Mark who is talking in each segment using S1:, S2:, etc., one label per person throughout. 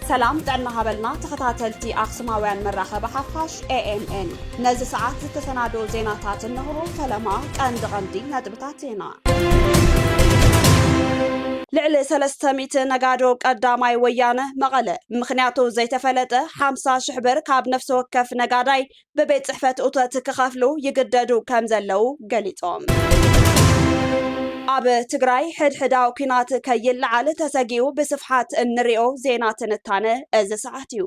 S1: ሰላም ጥዕና ሃበልና ተኸታተልቲ ኣክሱማውያን መራኸቢ ሓፋሽ ኤኤምኤን ነዚ ሰዓት ዝተሰናዶ ዜናታት እንሆ። ፈለማ ቀንዲ ቀንዲ ነጥብታት ዜና ልዕሊ ሰለስተ ሚእቲ ነጋዶ ቀዳማይ ወያነ መቐለ ምኽንያቱ ዘይተፈለጠ ሓምሳ ሽሕ ብር ካብ ነፍሲ ወከፍ ነጋዳይ ብቤት ጽሕፈት ኡተት ክኸፍሉ ይግደዱ ከም ዘለዉ ገሊጾም። ኣብ ትግራይ ሕድሕዳዊ ኲናት ከይለዓል ተሰጊኡ ብስፍሓት እንሪኦ ዜና ትንታነ እዚ ሰዓት እዩ።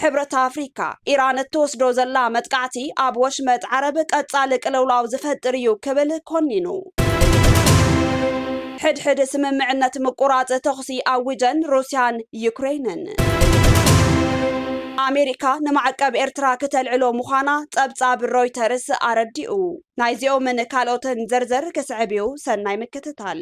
S1: ሕብረት ኣፍሪካ፣ ኢራን እትወስዶ ዘላ መጥቃዕቲ ኣብ ወሽመጥ ዓረብ ቀፃሊ ቅልውላው ዝፈጥር እዩ ክብል ኮኒኑ። ሕድሕድ ስምምዕነት ምቁራፅ ተኹሲ ኣዊጀን ሩስያን ዩክሬንን። ኣሜሪካ ንማዕቀብ ኤርትራ ክተልዕሎ ምዃና ፀብፃብ ሮይተርስ ኣረዲኡ። ናይዚኦምን ካልኦትን ዝርዝር ክስዕብ እዩ፣ ሰናይ ምክትታል።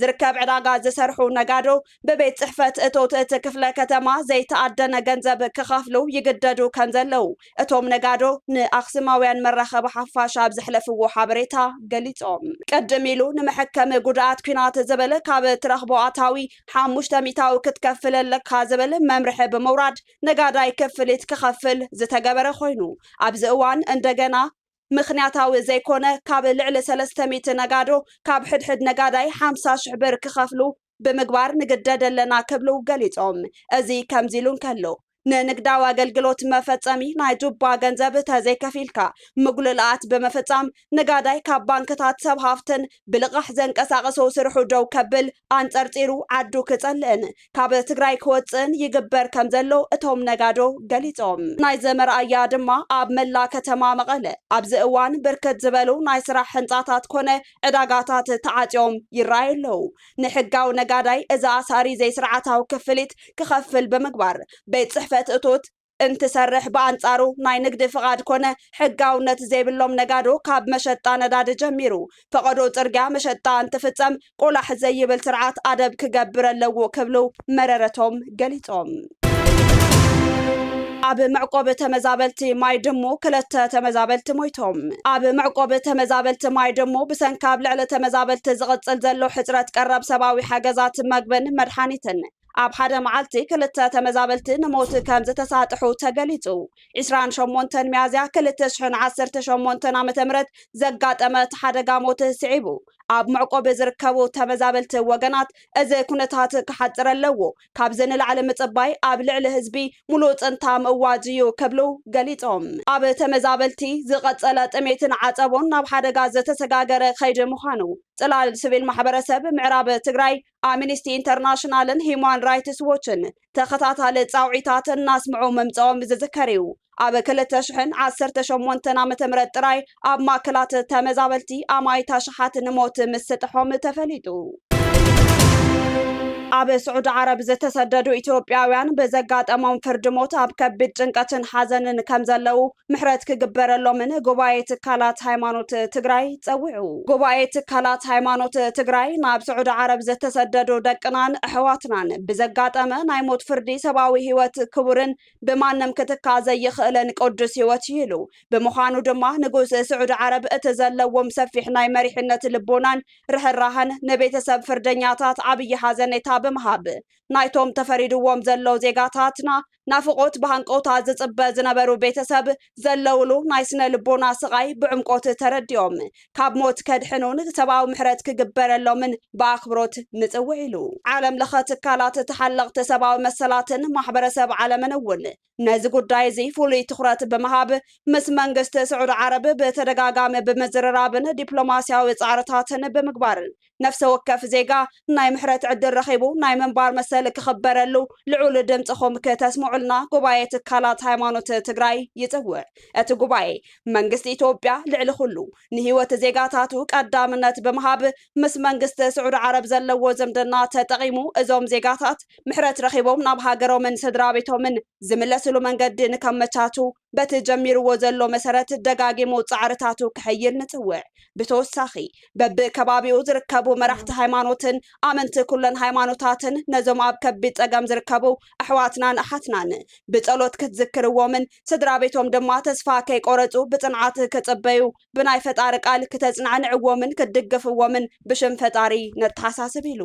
S1: ዝርከብ ዕዳጋ ዝሰርሑ ነጋዶ ብቤት ፅሕፈት እቶት እቲ ክፍለ ከተማ ዘይተኣደነ ገንዘብ ክኸፍሉ ይግደዱ ከምዘለው እቶም ነጋዶ ንኣክሱማውያን መራኸቢ ሓፋሽ ኣብ ዘሕለፍዎ ሓበሬታ ገሊፆም። ቅድም ኢሉ ንመሐከሚ ጉድኣት ኲናት ዝብል ካብ እትረኽቦ ኣታዊ ሓሙሽተ ሚእታዊ ክትከፍል ኣለካ ዝብል መምርሒ ብምውራድ ነጋዳይ ክፍሊት ክኸፍል ዝተገበረ ኮይኑ ኣብዚ እዋን እንደገና ምኽንያታዊ ዘይኮነ ካብ ልዕሊ ሰለስተ ሚእቲ ነጋዶ ካብ ሕድሕድ ነጋዳይ ሓምሳ ሽሕ ብር ክኸፍሉ ብምግባር ንግደድ ኣለና ክብሉ ገሊፆም። እዚ ከምዚ ኢሉ እንከሎ ንንግዳዊ ኣገልግሎት መፈፀሚ ናይ ጁባ ገንዘብ ተዘይከፊልካ ምጉልልኣት ብምፍፃም ነጋዳይ ካብ ባንክታት ሰብ ሃፍትን ብልቓሕ ዘንቀሳቕሶ ስርሑ ደው ከብል ኣንፀርፂሩ ዓዱ ክፀልእን ካብ ትግራይ ክወፅእን ይግበር ከምዘሎ እቶም ነጋዶ ገሊፆም። ናይዚ መርኣያ ድማ ኣብ መላእ ከተማ መቐለ ኣብዚ እዋን ብርክት ዝበሉ ናይ ስራሕ ህንፃታት ኮነ ዕዳጋታት ተዓፅዮም ይረኣዩ ኣለው። ንሕጋዊ ነጋዳይ እዚ ኣሳሪ ዘይስርዓታዊ ክፍሊት ክኸፍል ብምግባር ቤት ፅሕፈት እቶት፣ እንትሰርሕ ብኣንፃሩ ናይ ንግዲ ፍቓድ ኮነ ሕጋውነት ዘይብሎም ነጋዶ ካብ መሸጣ ነዳዲ ጀሚሩ ፈቐዶ ፅርግያ መሸጣ እንትፍፀም ቆላሕ ዘይብል ስርዓት ኣደብ ክገብር ኣለዎ ክብሉ መረረቶም ገሊፆም። ኣብ መዕቆቢ ተመዛበልቲ ማይ ድሙ ክልተ ተመዛበልቲ ሞይቶም። ኣብ መዕቆቢ ተመዛበልቲ ማይ ድሙ ብሰንኪ ኣብ ልዕሊ ተመዛበልቲ ዝቕፅል ዘሎ ሕፅረት ቀረብ ሰብኣዊ ሓገዛት መግብን መድሓኒትን ኣብ ሓደ መዓልቲ ክልተ ተመዛበልቲ ንሞት ከምዝተሳጥሑ ተገሊጹ። ዕስራን ሸሞንተን ሚያዝያ ክልተ ሽሕን ዓሰርተ ሸሞንተን ዓመተ ምህረት ዘጋጠመ እቲ ሓደጋ ሞት ስዒቡ ኣብ መዕቆቢ ዝርከቡ ተመዛበልቲ ወገናት እዚ ኩነታት ክሓጽር ኣለዎ፣ ካብዚ ንላዕሊ ምጽባይ ኣብ ልዕሊ ህዝቢ ሙሉእ ጽንታ ምእዋጅ እዩ ክብሉ ገሊጾም። ኣብ ተመዛበልቲ ዝቐጸለ ጥሜትን ዓጸቦን ናብ ሓደጋ ዝተሰጋገረ ከይዲ ምዃኑ ጽላል ስቪል ማሕበረሰብ ምዕራብ ትግራይ ኣምኒስቲ ኢንተርናሽናልን ሂዩማን ራይትስ ዎችን ተኸታታሊ ጻውዒታት እናስምዑ ምምጻኦም ዝዝከር እዩ። ኣብ ክልተ ሽሕን ዓሰርተ ሸሞንተን ዓመተ ምህረት ጥራይ ኣብ ማእከላት ተመዛበልቲ ኣማኢት ኣሽሓት ንሞት ምስጥሖም ተፈሊጡ። ኣብ ስዑዲ ዓረብ ዝተሰደዱ ኢትዮጵያውያን ብዘጋጠሞም ፍርዲ ሞት ኣብ ከቢድ ጭንቀትን ሓዘንን ከምዘለዉ ምሕረት ክግበረሎምን ጉባኤ ትካላት ሃይማኖት ትግራይ ፀዊዑ። ጉባኤ ትካላት ሃይማኖት ትግራይ ናብ ስዑዲ ዓረብ ዝተሰደዱ ደቅናን ኣሕዋትናን ብዘጋጠመ ናይ ሞት ፍርዲ ሰብኣዊ ህይወት ክቡርን ብማንም ክትካ ዘይኽእልን ቅዱስ ህይወት እዩ ኢሉ። ብምዃኑ ድማ ንጉስ ስዑዲ ዓረብ እቲ ዘለዎም ሰፊሕ ናይ መሪሕነት ልቦናን ርሕራሀን ንቤተሰብ ፍርደኛታት ዓብዪ ሓዘኔታ ብምሃብ ናይቶም ተፈሪድዎም ዘሎ ዜጋታትና ናፍቖት ብሃንቀውታ ዝጽበ ዝነበሩ ቤተሰብ ዘለውሉ ናይ ስነ ልቦና ስቓይ ብዕምቆት ተረዲኦም ካብ ሞት ከድሕኑን ሰብኣዊ ምሕረት ክግበረሎምን ብኣኽብሮት ንጽውዕ ኢሉ። ዓለም ለኸ ትካላት ተሓለቕቲ ሰብኣዊ መሰላትን ማሕበረሰብ ዓለምን እውን ነዚ ጉዳይ እዚ ፍሉይ ትኹረት ብምሃብ ምስ መንግስቲ ስዑዲ ዓረብ ብተደጋጋሚ ብምዝርራብን ዲፕሎማስያዊ ጻዕርታትን ብምግባርን ነፍሰ ወከፍ ዜጋ ናይ ምሕረት ዕድል ረኺቡ ናይ ምንባር መሰል ክኽበረሉ ልዑል ድምፅኹም ክተስምዑልና ጉባኤ ትካላት ሃይማኖት ትግራይ ይፅውዕ። እቲ ጉባኤ መንግስቲ ኢትዮጵያ ልዕሊ ኹሉ ንህይወት ዜጋታቱ ቀዳምነት ብምሃብ ምስ መንግስቲ ስዑዲ ዓረብ ዘለዎ ዝምድና ተጠቒሙ እዞም ዜጋታት ምሕረት ረኺቦም ናብ ሃገሮምን ስድራቤቶምን ዝምለስሉ መንገዲ ንከመቻችው በቲ ጀሚርዎ ዘሎ መሰረት ደጋጊሙ ፃዕርታቱ ከሐይል ንፅውዕ። ብተወሳኺ በቢከባቢኡ ዝርከቡ መራሕቲ ሃይማኖትን ኣመንቲ ኩለን ሃይማኖታትን ነዞም ኣብ ከቢድ ፀገም ዝርከቡ ኣሕዋትናን ኣሓትናን ብፀሎት ክትዝክርዎምን ስድራቤቶም ድማ ተስፋ ከይቆረፁ ብፅንዓት ክፅበዩ ብናይ ፈጣሪ ቃል ክተፅናዕንዕዎምን ክትድግፍዎምን ብሽም ፈጣሪ ነተሓሳስብ ኢሉ።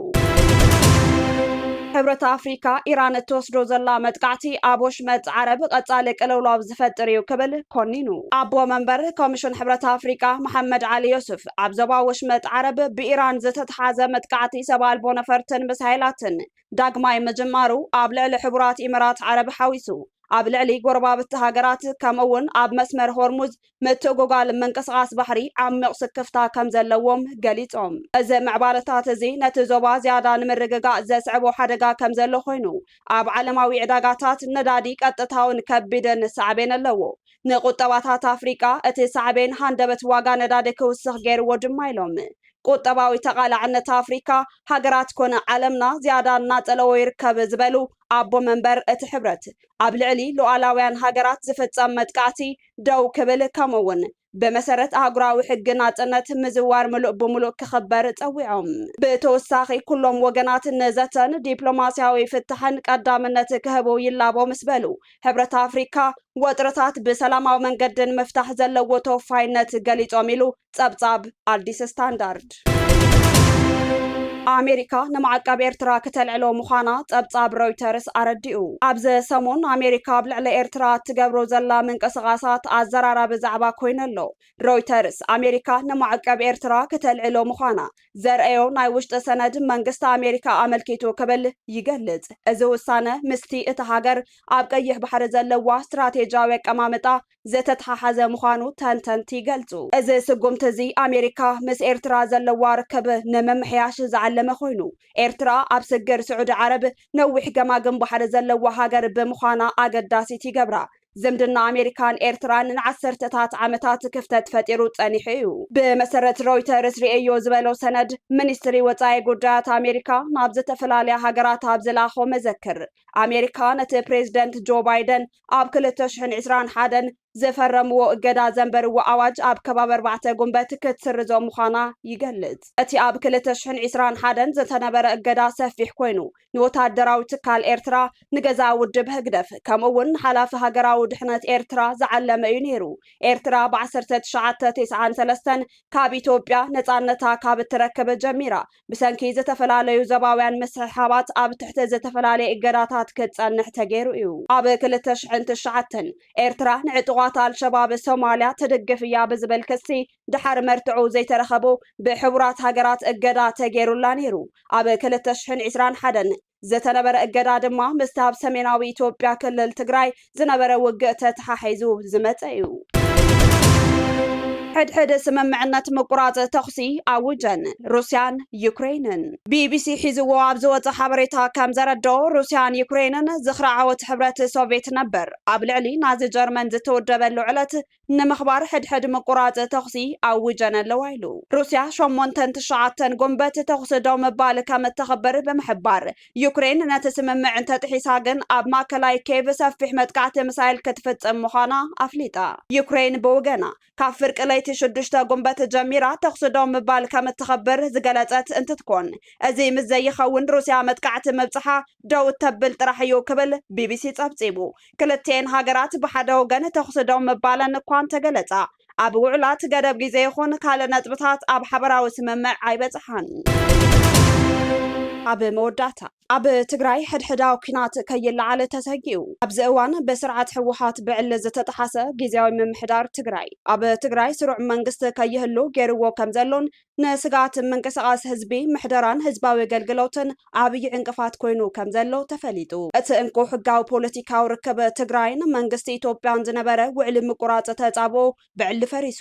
S1: ሕብረት ኣፍሪካ ኢራን እትወስዶ ዘላ መጥቃዕቲ ኣብ ወሽመጥ ዓረብ ቐፃሊ ቅልውላው ዝፈጥር እዩ ክብል ኮኒኑ። ኣቦ መንበር ኮሚሽን ሕብረት ኣፍሪካ መሓመድ ዓሊ ዮሱፍ ኣብ ዞባ ወሽመጥ ዓረብ ብኢራን ዝተትሓዘ መጥቃዕቲ ሰብ ኣልቦ ነፈርትን ምሳይላትን ዳግማይ ምጅማሩ ኣብ ልዕሊ ሕቡራት ኢምራት ዓረብ ሓዊሱ ኣብ ልዕሊ ጎረባብቲ ሃገራት ከምኡ እውን ኣብ መስመር ሆርሙዝ ምትእጉጓል ምንቅስቓስ ባሕሪ ዓሚቕ ስክፍታ ከም ዘለዎም ገሊጾም፣ እዚ ምዕባለታት እዚ ነቲ ዞባ ዝያዳ ንምርግጋእ ዘስዕቦ ሓደጋ ከም ዘሎ ኮይኑ፣ ኣብ ዓለማዊ ዕዳጋታት ነዳዲ ቀጥታውን ከቢድን ሳዕቤን ኣለዎ። ንቁጠባታት ኣፍሪቃ እቲ ሳዕቤን ሃንደበት ዋጋ ነዳዲ ክውስኽ ገይርዎ ድማ ኢሎም። ቁጠባዊ ተቓላዕነት ኣፍሪካ፣ ሃገራት ኮነ ዓለምና ዝያዳ እናጸለዎ ይርከብ ዝበሉ ኣቦ መንበር እቲ ሕብረት፣ ኣብ ልዕሊ ሉኣላውያን ሃገራት ዝፍጸም መጥቃዕቲ ደው ክብል ከምኡ'ውን ብመሰረት ኣህጉራዊ ሕጊ ናጽነት ምዝዋር ምሉእ ብምሉእ ክኽበር ጸዊዖም። ብተወሳኺ ኩሎም ወገናት ንዘተን ዲፕሎማስያዊ ፍታሕን ቀዳምነት ክህቡ ይላቦ ምስ በሉ፣ ሕብረት ኣፍሪካ ወጥርታት ብሰላማዊ መንገዲ ንምፍታሕ ዘለዎ ተወፋይነት ገሊጾም ኢሉ ጸብጻብ ኣዲስ ስታንዳርድ። ኣሜሪካ ንማዕቀብ ኤርትራ ክተልዕሎ ምዃና ጸብጻብ ሮይተርስ ኣረዲኡ። ኣብዚ ሰሙን ኣሜሪካ ኣብ ልዕሊ ኤርትራ እትገብሮ ዘላ ምንቅስቓሳት ኣዘራራቢ ዛዕባ ኮይኑ ኣሎ። ሮይተርስ፣ ኣሜሪካ ንማዕቀብ ኤርትራ ክተልዕሎ ምዃና ዘርእዮ ናይ ውሽጢ ሰነድ መንግስቲ ኣሜሪካ ኣመልኪቱ ክብል ይገልጽ። እዚ ውሳነ ምስቲ እታ ሃገር ኣብ ቀይሕ ባሕሪ ዘለዋ ስትራቴጂያዊ ኣቀማምጣ ዝተተሓሓዘ ምዃኑ ተንተንቲ ይገልጹ። እዚ ስጉምቲ እዚ ኣሜሪካ ምስ ኤርትራ ዘለዋ ርክብ ንምምሕያሽ ዝዓለመ ኮይኑ፣ ኤርትራ ኣብ ስግር ስዑዲ ዓረብ ነዊሕ ገማግም ባሕሪ ዘለዋ ሃገር ብምዃና ኣገዳሲት ይገብራ። ዝምድና ኣሜሪካን ኤርትራን ንዓሰርተታት ዓመታት ክፍተት ፈጢሩ ጸኒሑ እዩ። ብመሰረት ሮይተርስ ርእየዮ ዝበሎ ሰነድ፣ ሚኒስትሪ ወጻኢ ጉዳያት ኣሜሪካ ናብ ዝተፈላለያ ሃገራት ኣብ ዝለኣኾ መዘክር፣ ኣሜሪካ ነቲ ፕሬዝደንት ጆ ባይደን ኣብ ክልተ ሽሕን ዕስራን ሓደን ዝፈረምዎ እገዳ ዘንበርዎ ኣዋጅ ኣብ ከባቢ ኣርባዕተ ጉንበት ክትስርዞ ምዃና ይገልጽ። እቲ ኣብ ክልተ ሽሕን ዕስራን ሓደን ዝተነበረ እገዳ ሰፊሕ ኮይኑ፣ ንወተሃደራዊ ትካል ኤርትራ፣ ንገዛኢ ውድብ ህግደፍ፣ ከምኡ'ውን ንሓላፊ ሃገራዊ ድሕነት ኤርትራ ዝዓለመ እዩ ነይሩ። ኤርትራ ብ ዓሰርተ ትሽዓተ ቴስዓን ሰለስተን ካብ ኢትዮጵያ ነጻነታ ካብ እትረክብ ጀሚራ፣ ብሰንኪ ዝተፈላለዩ ዘባውያን ምስሕሓባት ኣብ ትሕቲ ዝተፈላለየ እገዳታት ክጸንሕ ተገይሩ እዩ። ኣብ ክልተ ሽሕን ትሽዓተን፣ ኤርትራ ንዕጡቓት ኣልሸባብ ሶማልያ ትድግፍ እያ ብዝብል ክሲ ድሓር መርትዕኡ ዘይተረኸቡ ብሕቡራት ሃገራት እገዳ ተገይሩላ ነይሩ። ኣብ ክልተ ሽሕን ዒስራን ሓደን፣ ዝተነበረ እገዳ ድማ ምስቲ ኣብ ሰሜናዊ ኢትዮጵያ ክልል ትግራይ ዝነበረ ውግእ ተተሓሒዙ ዝመፀ እዩ። ሕድሕድ ስምምዕነት ምቁራፅ ተኹሲ ኣውጀን ሩስያን ዩክሬንን። ቢቢሲ ሒዝዎ ኣብ ዝወፀ ሓበሬታ ከም ዘረድኦ ሩስያን ዩክሬንን ዝኽሪ ዓወት ሕብረት ሶቬት ነበር ኣብ ልዕሊ ናዚ ጀርመን ዝተወደበሉ ዕለት ንምኽባር ሕድሕድ ምቁራጽ ተኹሲ ኣዊጀን ኣለዋ ኢሉ። ሩስያ ሸሞንተን ትሽዓተን ጉንበት ተኹሲ ደው ምባል ከም እተኽብር ብምሕባር፣ ዩክሬን ነቲ ስምምዕ እንተጥሒሳ ግን ኣብ ማእከላይ ኬቭ ሰፊሕ መጥቃዕቲ ምሳይል ክትፍጽም ምዃና ኣፍሊጣ። ዩክሬን ብውገና፣ ካብ ፍርቂ ለይቲ ሽዱሽተ ጉንበት ጀሚራ ተኹሲ ደው ምባል ከም እትኽብር ዝገለጸት እንትትኮን፣ እዚ ምስ ዘይኸውን ሩስያ መጥቃዕቲ ምብጽሓ ደው እተብል ጥራሕ እዩ ክብል ቢቢሲ ጸብጺቡ። ክልቲኤን ሃገራት ብሓደ ወገን ተኹሲ ደው ምባለን እኳ እንተገለጻ፣ ኣብ ውዑላት ገደብ ግዜ ይኹን ካልእ ነጥብታት ኣብ ሓበራዊ ስምምዕ ኣይበጽሓን። ኣብ መወዳእታ፣ ኣብ ትግራይ ሕድሕዳዊ ኲናት ከይለዓል ተሰጊኡ፣ ኣብዚ እዋን ብስርዓት ህወሓት ብዕሊ ዝተጠሓሰ ግዝያዊ ምምሕዳር ትግራይ፣ ኣብ ትግራይ ስሩዕ መንግስቲ ከይህሉ ገይሩዎ ከምዘሎን ንስግኣት ምንቅስቓስ ህዝቢ፣ ምሕደራን ህዝባዊ ኣገልግሎትን ዓብዪ ዕንቅፋት ኮይኑ ከም ዘሎ ተፈሊጡ። እቲ እንኮ ሕጋዊ ፖለቲካዊ ርክብ ትግራይን መንግስቲ ኢትዮጵያን ዝነበረ ውዕሊ ምቁራጽ ተጻብኦ ብዕሊ ፈሪሱ፣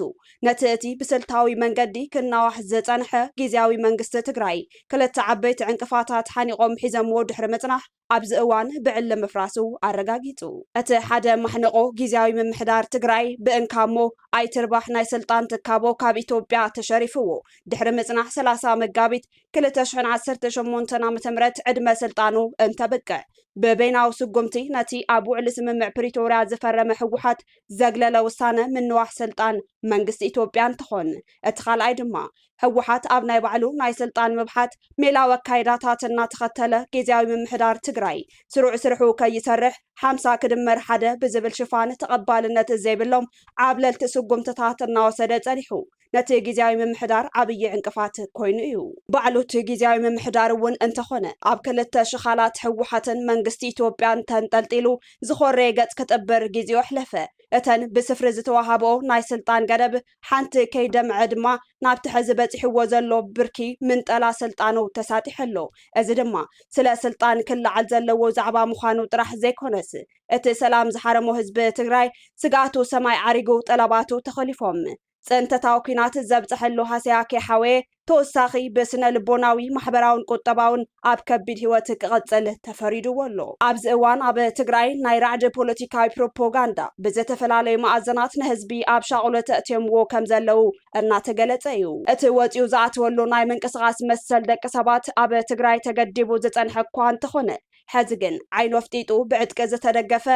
S1: ነቲ እቲ ብስልታዊ መንገዲ ክናዋሕ ዝጸንሐ ግዝያዊ መንግስቲ ትግራይ ክልተ ዓበይቲ ዕንቅፋታት ሓኒቖም ሒዘምዎ ድሕሪ ምጽናሕ፣ ኣብዚ እዋን ብዕሊ ምፍራሱ ኣረጋጊጹ። እቲ ሓደ ማሕንቖ ጊዚያዊ ምምሕዳር ትግራይ ብእንካሞ ኣይትርባሕ ናይ ስልጣን ትካቦ ካብ ኢትዮጵያ ተሸሪፍዎ ድሕሪ ምጽናሕ ሰላሳ መጋቢት ክልተ ሽሕን ዓሰርተ ሸሞንተን ዓመተ ምህረት ዕድመ ስልጣኑ እንተብቅዕ ብበይናዊ ስጉምቲ ነቲ ኣብ ውዕሊ ስምምዕ ፕሪቶርያ ዝፈረመ ህወሓት ዘግለለ ውሳነ ምንዋሕ ስልጣን መንግስቲ ኢትዮጵያ እንትኾን እቲ ካልኣይ ድማ ህወሓት ኣብ ናይ ባዕሉ ናይ ስልጣን ምብሓት ሜላዊ ኣካይዳታት እናተኸተለ ጊዚያዊ ምምሕዳር ትግራይ ስሩዕ ስርሑ ከይሰርሕ ሓምሳ ክድመር ሓደ ብዝብል ሽፋን ተቐባልነት ዘይብሎም ዓብለልቲ ስጉምትታት እናወሰደ ፀኒሑ ነቲ ጊዚያዊ ምምሕዳር ዓብዪ ዕንቅፋት ኮይኑ እዩ። ባዕሉ እቲ ጊዚያዊ ምምሕዳር እውን እንተኾነ ኣብ ክልተ ሽኻላት ህወሓትን መንግስቲ ኢትዮጵያን ተንጠልጢሉ ዝኾረየ ገፅ ክጥብር ጊዜኡ ኣሕለፈ። እተን ብስፍሪ ዝተወሃበኦ ናይ ስልጣን ገደብ ሓንቲ ከይደምዐ ድማ ናብቲ ሕዚ በጺሕዎ ዘሎ ብርኪ ምንጠላ ስልጣኑ ተሳጢሑ ኣሎ። እዚ ድማ ስለ ስልጣን ክለዓል ዘለዎ ዛዕባ ምዃኑ ጥራሕ ዘይኮነስ እቲ ሰላም ዝሓረሞ ህዝቢ ትግራይ ስግኣቱ ሰማይ ዓሪጉ ጠለባቱ ተኾሊፎም ፅንተታዊ ኲናት ዘብፀሐሉ ሃሰያ ከይሓወየ ተወሳኺ ብስነ ልቦናዊ፣ ማሕበራውን ቁጠባውን ኣብ ከቢድ ህይወት ክቕጽል ተፈሪድዎ ኣሎ። ኣብዚ እዋን ኣብ ትግራይ ናይ ራዕዲ ፖለቲካዊ ፕሮፖጋንዳ ብዘተፈላለዩ መኣዘናት ንህዝቢ ኣብ ሻቕሎት ኣእትዮምዎ ከም ዘለዉ እናተገለጸ እዩ። እቲ ወጺኡ ዝኣተወሉ ናይ ምንቅስቓስ መሰል ደቂ ሰባት ኣብ ትግራይ ተገዲቡ ዝጸንሐ እኳ እንተኾነ፣ ሕዚ ግን ዓይኑ ኣፍጢጡ ብዕጥቂ ዝተደገፈ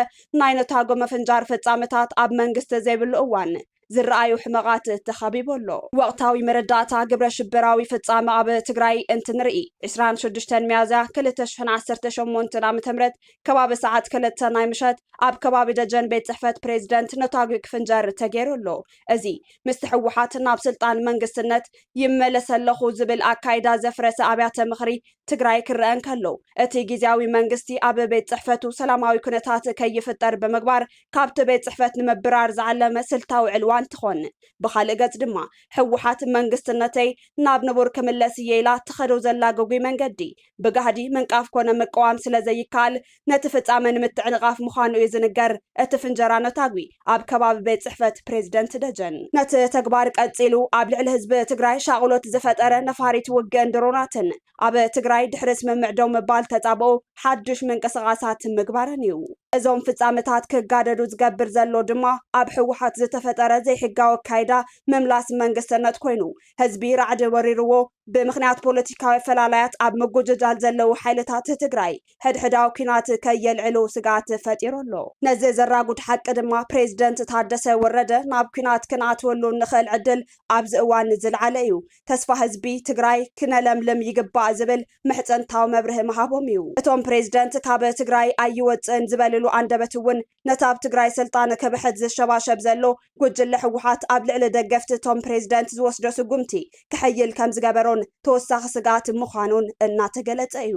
S1: ናይ ነታጎ ምፍንጃር ፍጻመታት ኣብ መንግስቲ ዘይብሉ እዋን ዝረኣዩ ሕመቓት ተኸቢቡ ኣሎ። ወቕታዊ መረዳእታ ግብረ ሽበራዊ ፍፃመ ኣብ ትግራይ እንትንርኢ ዕስራን ሽዱሽተን ሚያዝያ ክልተ ሽሕን ዓሰርተ ሸሞንተን ዓመተ ምህረት ከባቢ ሰዓት ክልተ ናይ ምሸት ኣብ ከባቢ ደጀን ቤት ፅሕፈት ፕሬዝደንት ነታጒ ክፍንጀር ተገይሩ ኣሎ። እዚ ምስቲ ህወሓት ናብ ስልጣን መንግስትነት ይመለስ ኣለኹ ዝብል ኣካይዳ ዘፍረሰ ኣብያተ ምኽሪ ትግራይ ክረኣ እንከሎ እቲ ጊዚያዊ መንግስቲ ኣብ ቤት ፅሕፈቱ ሰላማዊ ኩነታት ከይፍጠር ብምግባር ካብቲ ቤት ፅሕፈት ንምብራር ዝዓለመ ስልታዊ ዕልዋ እንትኾን ብኻልእ ገፅ ድማ ህወሓት መንግስትነተይ ናብ ንቡር ክምለስ እየ ኢላ ትኸዶ ዘላ ግጉይ መንገዲ ብጋህዲ ምንቃፍ ኮነ ምቅዋም ስለዘይካኣል ነቲ ፍፃመ ንምትዕንቓፍ ምዃኑ እዩ ዝንገር እቲ ፍንጀራ ነታጒ ኣብ ከባቢ ቤት ፅሕፈት ፕሬዝደንት ደጀን ነቲ ተግባር ቀፂሉ ኣብ ልዕሊ ህዝቢ ትግራይ ሻቕሎት ዝፈጠረ ነፋሪት ውግእን ድሮናትን ኣብ ትግራይ ድሕሪ ስምምዕ ደው ምባል ተፃብኦ ሓዱሽ ምንቅስቓሳት ምግባረን እዩ። እዞም ፍፃመታት ክጋደዱ ዝገብር ዘሎ ድማ ኣብ ህወሓት ዝተፈጠረ ዘይሕጋዊ ኣካይዳ ምምላስ መንግስትነት ኮይኑ ህዝቢ ራዕዲ ወሪርዎ ብምኽንያት ፖለቲካዊ ኣፈላላያት ኣብ ምጉጅጃል ዘለዉ ሓይልታት ትግራይ ሕድሕዳዊ ኲናት ከየልዕሉ ስግኣት ፈጢሩ ኣሎ። ነዚ ዘራጉድ ሓቂ ድማ ፕሬዝደንት ታደሰ ወረደ ናብ ኲናት ክንኣትወሉ እንኽእል ዕድል ኣብዚ እዋን ዝልዓለ እዩ። ተስፋ ህዝቢ ትግራይ ክነለምልም ይግባእ ዝብል ምሕጽንታዊ መብርሂ ምሃቦም እዩ። እቶም ፕሬዚደንት ካብ ትግራይ ኣይወፅእን ዝበልሉ ኣንደበት እውን ነቲ ኣብ ትግራይ ስልጣን ክብሕት ዝሸባሸብ ዘሎ ጉጅለ ህወሓት ኣብ ልዕሊ ደገፍቲ እቶም ፕሬዚደንት ዝወስዶ ስጉምቲ ክሕይል ከምዝገበሮን ተወሳኺ ስግኣት ምዃኑን እናተገለፀ እዩ።